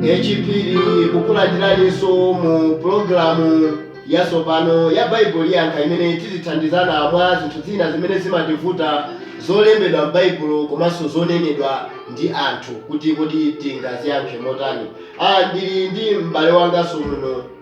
H. Phiri kukulandiraninso mu pulogalamu yatsopano ya Baibulo Yankha imene tizithandizana mwa zinthu zina zimene zimativuta zolembedwa m'Baibulo komanso zonenedwa ndi anthu kuti kodi tingaziyankhe motani. Ndili ndi m'bale wanganso muno.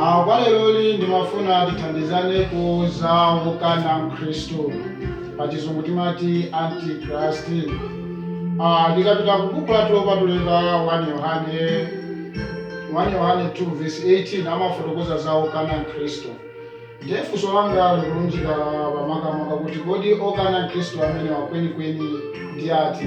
A. Kwa lero ndimafuna tithandizane ku za wokana Khristu, pachizungu timati Anti-Christ. A. Tikapita ku Buku lathu lopatulika 1 Yohane 1 Yohane 2 vesi 18 amafotokoza za wokana Khristu. Ndiye funso langa likulunjika pa makamaka kuti kodi okana Khristu amenewa kwenikweni ndi ati?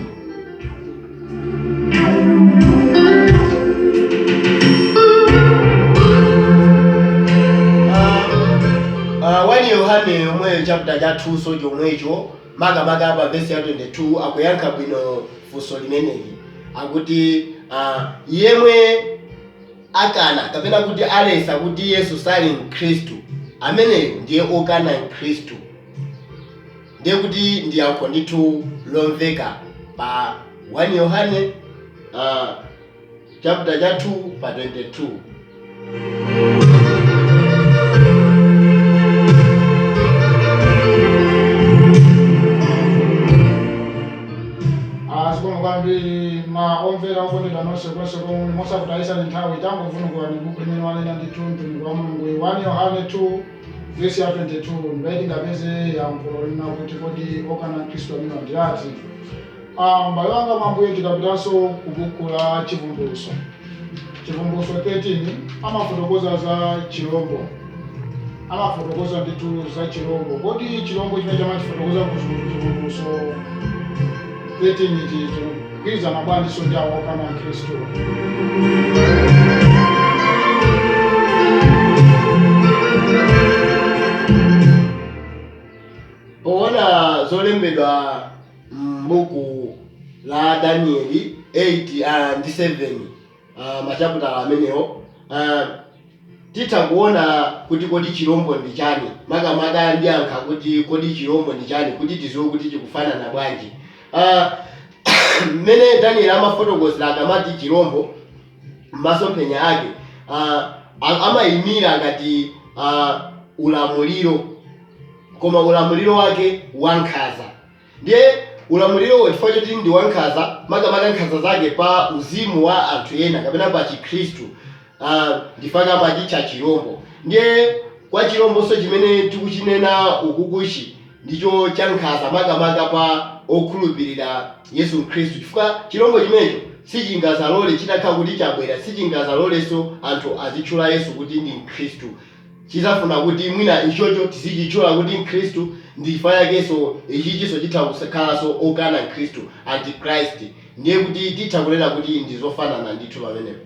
A 1 Yohane yomweyo chapter cha 2 so chomwecho makamaka pa verse ya 22 akuyankha bwino funso limeneli akuti ah, yemwe akana kapena kuti alesa kuti Yesu sali Mkhristu, ameneyo ndiye okana Mkhristu. Ndiye kuti ndi yankho ndithu lomveka pa 1 Yohane uh, chapter cha 2 pa 22. Ah, zikomo kwambiri ma- omvera okondedwa nonse konse komwe muli mosakutayitsani nthawi tangovundukulani buku limene wanena ndithu mtumiki wa mulunguyu 1 yohane 2 vesi ya 22 ndipati tingapeze yankho lonena kuti kodi okana mkhristu amenewa ndi ati Ah, m'bale wanga mwambuye tikapitanso ku buku la chivumbulutso Chivumbulutso 13 amafotokoza za chirombo, amafotokoza ndithu za chirombo. Kodi chirombo chimene akumachifotokoza ku Chivumbulutso 13 ichi chikugwirizana bwanjinso ndi awa okana Khristu? Poona zolembedwa M'buku la Danieli 8 ndi 7, machaputala amenewo, titha kuona kuti kodi chilombo ndi chani. Makamaka ndiyankha kuti kodi chilombo ndi chani kuti tiziwe kuti chikufanana bwanji. Mmene Danieli amafotokozera akamati chilombo m'masomphenya ake, amaimira ngati ulamuliro koma ulamuliro wake wankhanza. Ndiye ulamulirowo, chifukwa choti ndi wankhanza, makamaka nkhanza zake pa uzimu wa anthu ena kapena pa Chikhristu, a, ndi chifukwa amachitcha chirombo. Ndiye kwa chirombonso chimene tikuchinena ukukuchi ndicho chankhanza makamaka pa okhulupirira Yesu Khristu, chifukwa chirombo chimenecho sichingadzalole, chitakhala kuti chabwera, sichingadzalolenso anthu azitchula Yesu kuti ndi Mkhristu. Chidzafuna kuti mwina ichocho tizichitchula kuti Mkhristu ndi chifukwa chakenso ichichinso chitha kukhalanso okana Khristu, Antichrist, ndiye kuti titha kunena kuti ndi zofanana ndithu pamenepo.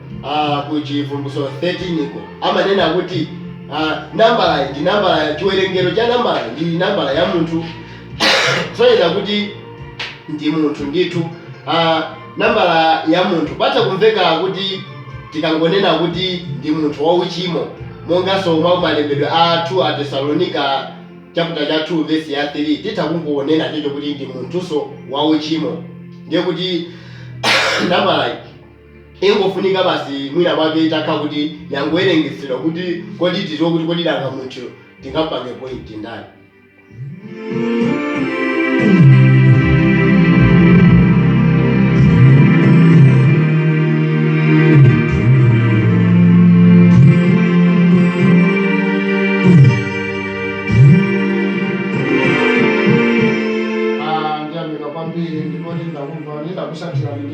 uh, ku Chivumbulutso 13 ko amanena kuti uh, nambalayi ndi nambala, chiwerengero cha nambalayi ndi nambala ya munthu kusonyeza kuti ndi munthu ndithu uh, nambala ya munthu patha kumveka kuti tikangonena kuti ndi munthu wauchimo monganso mwa malembedwe a 2 Atesalonika chaputala cha 2 vesi ya 3 titha kungonena chocho kuti ndi munthunso wauchimo ndiye kuti nambalayi Ingofunika basi mwina mwake itakhala kuti yangowerengetsedwa kuti kodi tiziwe kuti kodi nanga munthuyo tingamupange point ndani.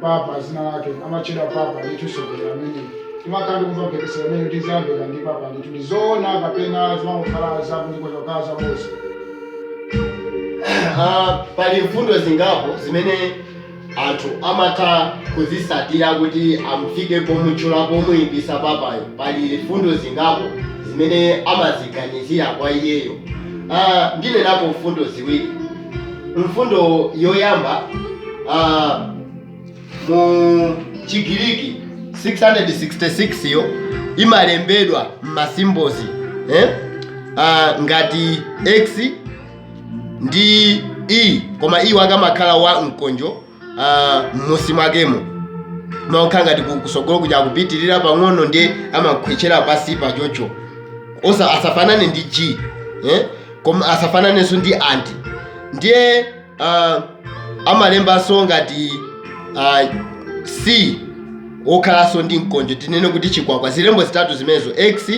Papa dzina lake amatchedwa Papa ndithu mtsogoleri ameneyi timakhala ndikumva mphekesera imene kuti zayambika ndi Papa ndithu ndi zoona kapena zimangokhala zakuti kungokhala zaboza Ah, pali mfundo zingapo zimene anthu amatha kuzitsatira kuti amfike pomutchula pomuyipisa papayo pali mfundo zingapo zimene amaziganizira kwa iyeyo ah, ndinenapo mfundo ziwiri Mfundo yoyamba uh, mu Chigiriki 666 yo imalembedwa m'masimbozi eh? uh, ngati x ndi e koma e wakeyo akamakhala wa mkonjo ah, m'musi mwakemo mokhala ngati ku- kutsogolo kuja akupitirira pang'ono ndiye amakhwechera pansi pachocho osa asafanane ndi g eh? koma asafananenso ndi anti ndiye ah, amalembanso ngati ah, c okhalanso ndi mkonjo tinene kuti chikwakwa zilembo zitatu zimenezo x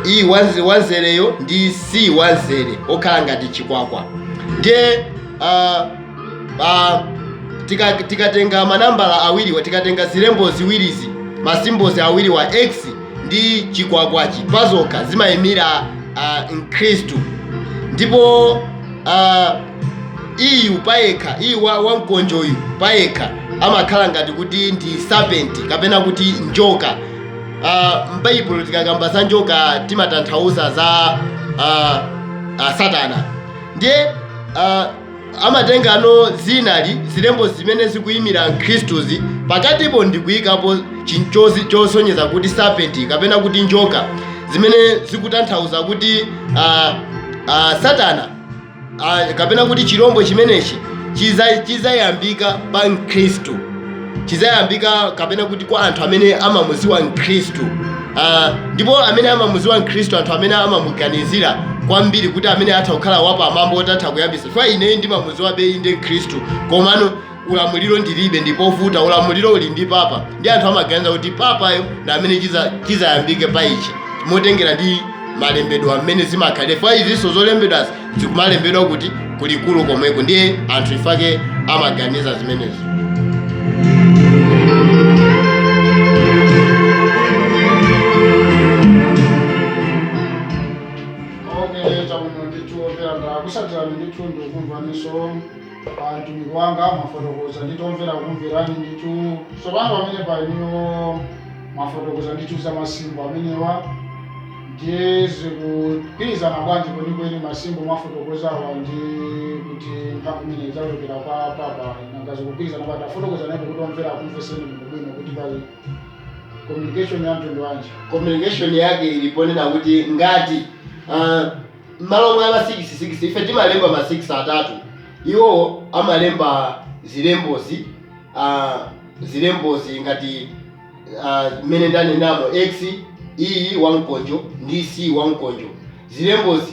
e wamze- wamzereyo ndi c wamzere okhala ngati chikwakwa ndiye ah, ah, tika- tikatenga manambala awiriwa tikatenga zilembo ziwirizi masimbozi awiriwa x ndi chikwakwachi pazokha zimayimira ah, mkhristu ndipo ah, iyu payekha iyu wa- wamkonjoyu payekha amakhala ngati kuti ndi serpent kapena kuti njoka Ah, m'baibulo tikakamba za njoka timatanthauza za ah, ah, satana ndiye ah, amatengano zinali zilembo zimene zikuyimira mkhristuzi pakatipo ndikuyikapo chinachake chosonyeza kuti serpent kapena kuti njoka zimene zikutanthauza kuti ah, ah, satana Ah, kapena kuti chirombo chimenechi chiza- chizayambika pa mkhristu chizayambika kapena kuti kwa anthu amene amamuziwa mkhristu Ah, ndipo amene amamuziwa mkhristu anthu amene amamuganizira kwambiri kuti amene atha kukhala wapamwamba otatha kuyambisa chifukwa ineyo ndimamuziwa bwino ndine mkhristu komano ulamuliro ndilibe ndi povuta, ulamuliro uli ndi papa nde anthu amaganiza kuti papayo ndi amene chiza- chizayambike pa ichi motengera ndi malembedwe amene zimakhalira chifukwa izinso zolembedwazi zikumalembedwa kuti kulikulu komweko ndiye anthu chifukwa chake amaganiza zimenezo okeleta muno ndithu opera ndakusatirani ndithu ndikumvaninso atumiki mwangoti mwafotokoza nditomvera kumverani ndithu tsopano pamene panopo mwafotokoza ndithu za masimbol amenewa ndiye zikugwirizana bwanji kwenikweni masimbol mwafotokozawa ndi kuti mphamvu imene idzachokera kwa papa nanga zikugwirizana bwanji tafotokozani kuti omvera akumveseni bwino bwino kuti pali communication ya mtundu wanji communication yake ili ponena kuti ngati uh, Mmalo mwa ma sikisi sikisi, ife timalemba ma sikisi atatu, iwowo amalemba zilembozi, a, zilembozi ngati, a, mmene ndanenamo, X, E, wamkonjo, ndi C, wamkonjo. Zilembozi,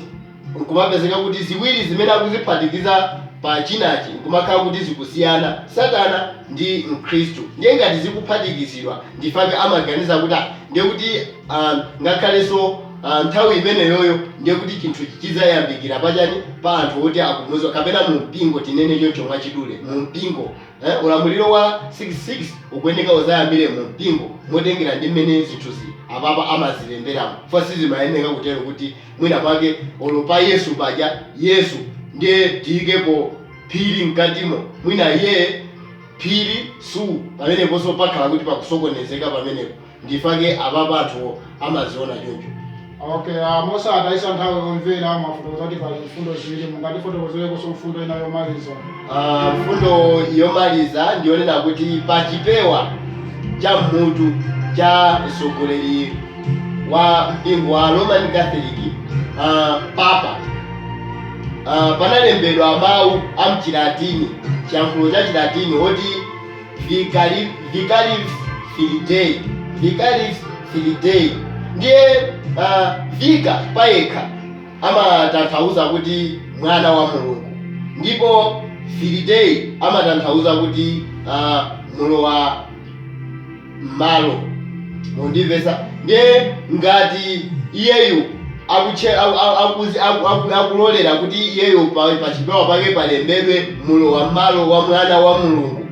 nkumapezeka kuti ziwiri zimene akuziphatikiza pa chinachi nkumakhala kuti zikusiyana, Satana ndi Mkhristu. Ndiye ngati zikuphatikizidwa, nchifukwa chake amaganiza kuti, ah, ndiye kuti, a, ngakhalenso. a nthawi imeneyoyo ndiye kuti chinthuchi chidzayambikira pachani pa anthu oti akumuziwa kapena mu mpingo tinene choncho mwachidule mu mpingo eh, ulamuliro wa 66 ukuyeneka uzayambire mu mpingo motengera ndi mmene zinthuzi apapa amazilemberamo chifukwa sizimayeneka kutero kuti mwina mwake olo pa yesu paja yesu ndiye tiyikepo phiri mkatimo mwina iye phiri su pameneponso pakhala kuti pakusokonezeka pamenepo ndipake apapa anthu amaziona choncho Okay, uh, mosatayitsa nthawi omvera mwafotokoza kuti pali mfundo ziwiri mungatifotokozereko mfundo ina yomaliza Ah, mfundo yomaliza ndiyonena kuti pa chipewa cha mmutu cha mtsogoleri wa mpingo wa roman catholic ah, papa ah, panalembedwa mawu a mchilatini chiyankhulo cha chilatini oti Vicarivs Vicarivs Filidae Vicarivs Filidae ndiye uh, vicar payekha amatanthauza kuti mwana wa Mulungu ndipo Filidae amatanthauza kuti uh, mulowa malo Mukundimvetsa? Ndiye ngati iyeyu akutche, aku, aku, akuzi, aku, aku, akulolera kuti iyeyo pa, pa chipewa pake palembedwe mlowammalo wa Mwana wa Mulungu,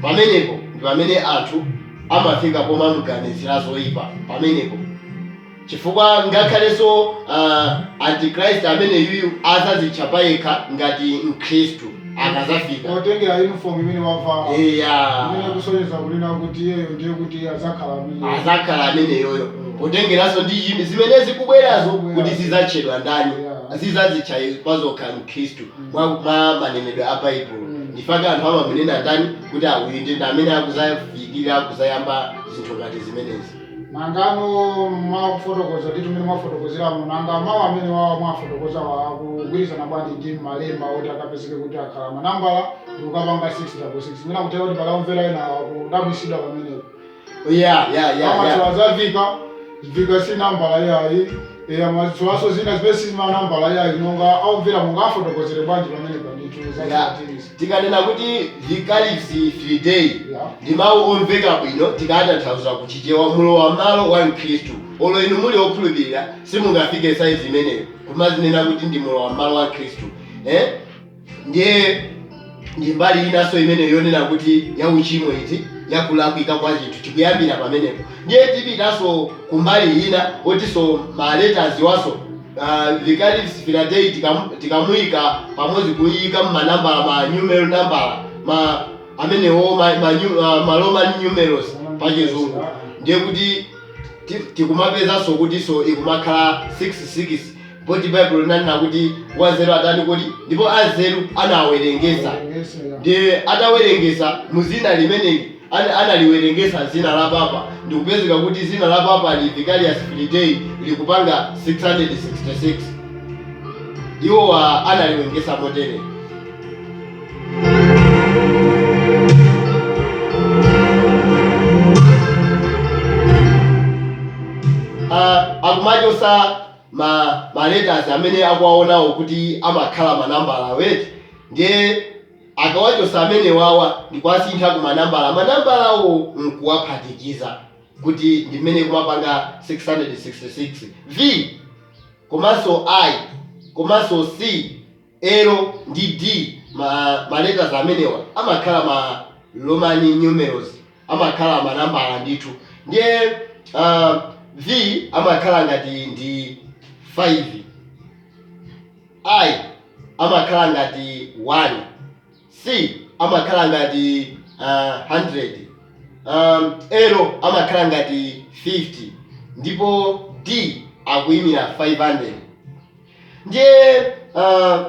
pamenepo ndi pamene anthu amafika pomamuganizira zoipa. Pamenepo. Chifukwa ngakhalenso uh, antichrist ameneyuyu azazitcha payekha ngati mkhristu akazafika potengera uniform imene wavala eya imene kusonyeza kunena kuti iyeyo ndiye kuti adzakhala amene azakhala ameneyo potengeranso ndi yi- zimene zikubwerazo kuti zizatchedwa ndani Yeah. zizazitcha pazokha mkhristu mwa, mwa manenedwe a baibulo ndifake anthu amamunena ndani kuti a- uyu ndi ndi amene akuzafikira kuzayamba zinthu ngati zimenezi Nangano mwafotokoza ndithu mmene mwafotokozeramu, nanga mawu amene wawa mwafotokozawa akugwirizana bwanji ndi malemba oti akapezeke kuti akhala manambala ndikukapanga 666? Mwina kutheka kuti pali akumvera ena akudabwisidwa pamenepo. Eya, ya, ya, ya. Amatchula za vicar, vicar si nambala iyayi. Eya, amatchulaso zina zimene si manambala iyayi, nanga akumvera mungawafotokozere bwanji pamenepa ndithu za Chilatini? Tikanena kuti Vicarius Filii Dei ndi mau omveka bwino tikawatanthauza ku Chichewa mulowa mmalo wa mkhristu. Olo inu muli okhulupirira simungafike size imeneyo kumadzinena kuti ndi mulowa mmalo wa mkhristu eeh ndiye ndi mbali inanso imeneyo yonena kuti ya uchimo iti ya kulakwika kwa chinthu chikuyambira pamenepo ndiye tipitanso kumbali ina otinso ma letters wonso uh, Vicarius Filii Dei tikamuika pamodzi kuiika mmanambala ma numeral nambala ma amenewo ma, ma, nyu- ah, ma roman numerals pa chizungu ndiye kuti ti- tikumapezanso kutinso ikumakhala 66 poti baibulo linanena kuti wanzeru atani kuti ndipo anzeru anawerengesa ndiye atawerengesa muzina limeneli An analiwerengetsa dzina la papa ndikupezeka kuti dzina la papa li Vicarius Filii Dei likupanga 666. Iwowa analiwengetsa motere. A akumachotsa ma ma letters amene akuwaonawo kuti amakhala ma nambala eti ndiye. Akawachotsa amenewawa ndikuwasintha ku manambala manambalawo nkuwaphatikiza kuti ndi imene ikumapanga 666. V, komanso I, komanso C, L ndi D ma ma letters amenewa amakhala ma Roman numerals amakhala manambala ndithu ndiye V amakhala ngati ndi 5. i. amakhala ngati 1. C. amakhala ngati uh, 100. Um, L amakhala ngati 50 ndipo D akuyimira 500. Ndiye uh,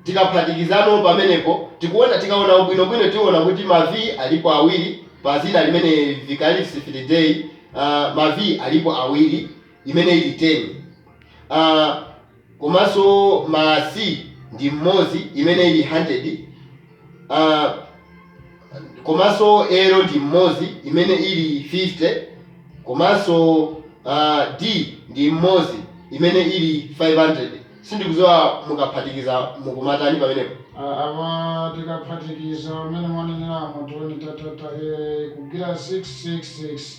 tikaphatikizano pamenepo tikuona, tikaona bwinobwino tiona kuti ma V alipo awiri pa dzina limene Vicarius Filii Dei, uh, ma V alipo awiri imene ili 10. Uh, komanso ma C ndi mmodzi imene ili hundred uh, komanso L ndi mmodzi imene ili 50 komanso uh, D ndi mmodzi imene ili 500 sindikudziwa mukaphatikiza mukumatani pamenepo. A, apa tikaphatikiza mmene mwaneneramu 2 ndi ta ta ta, ee ikugwera 666.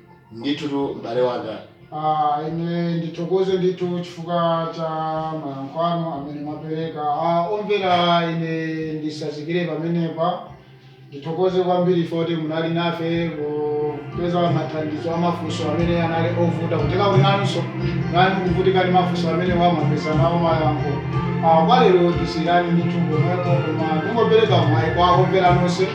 Ndithutu m'bale wanga. Ah, ine ndithokoze ndithu chifukwa cha mayankho anu amene mwapereka. Ah, omvera ine nditsazikire pamenepa. Ndithokoze kwambiri poti munali nafe kupeza mathandizo a mafunso amene anali ovuta. Kutheka kuti nanunso munali mukuvutika ndi mafunso amenewa mwapeza nawo mayankho. Ah, kwa lero tisiyirane ndithu pomwepo koma ndingopereka mwayi kwa omvera nonse.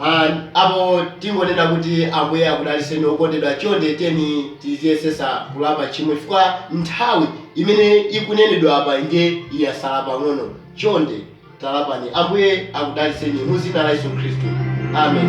And apo tingonena kuti ambuye akudalitseni okondedwa chonde tiyeni tiziyesetsa kulapa tchimo chifukwa nthawi imene ikunenedwa apa nde yatsala pang'ono chonde talapani ambuye akudalitseni mudzina la yesu khristu amen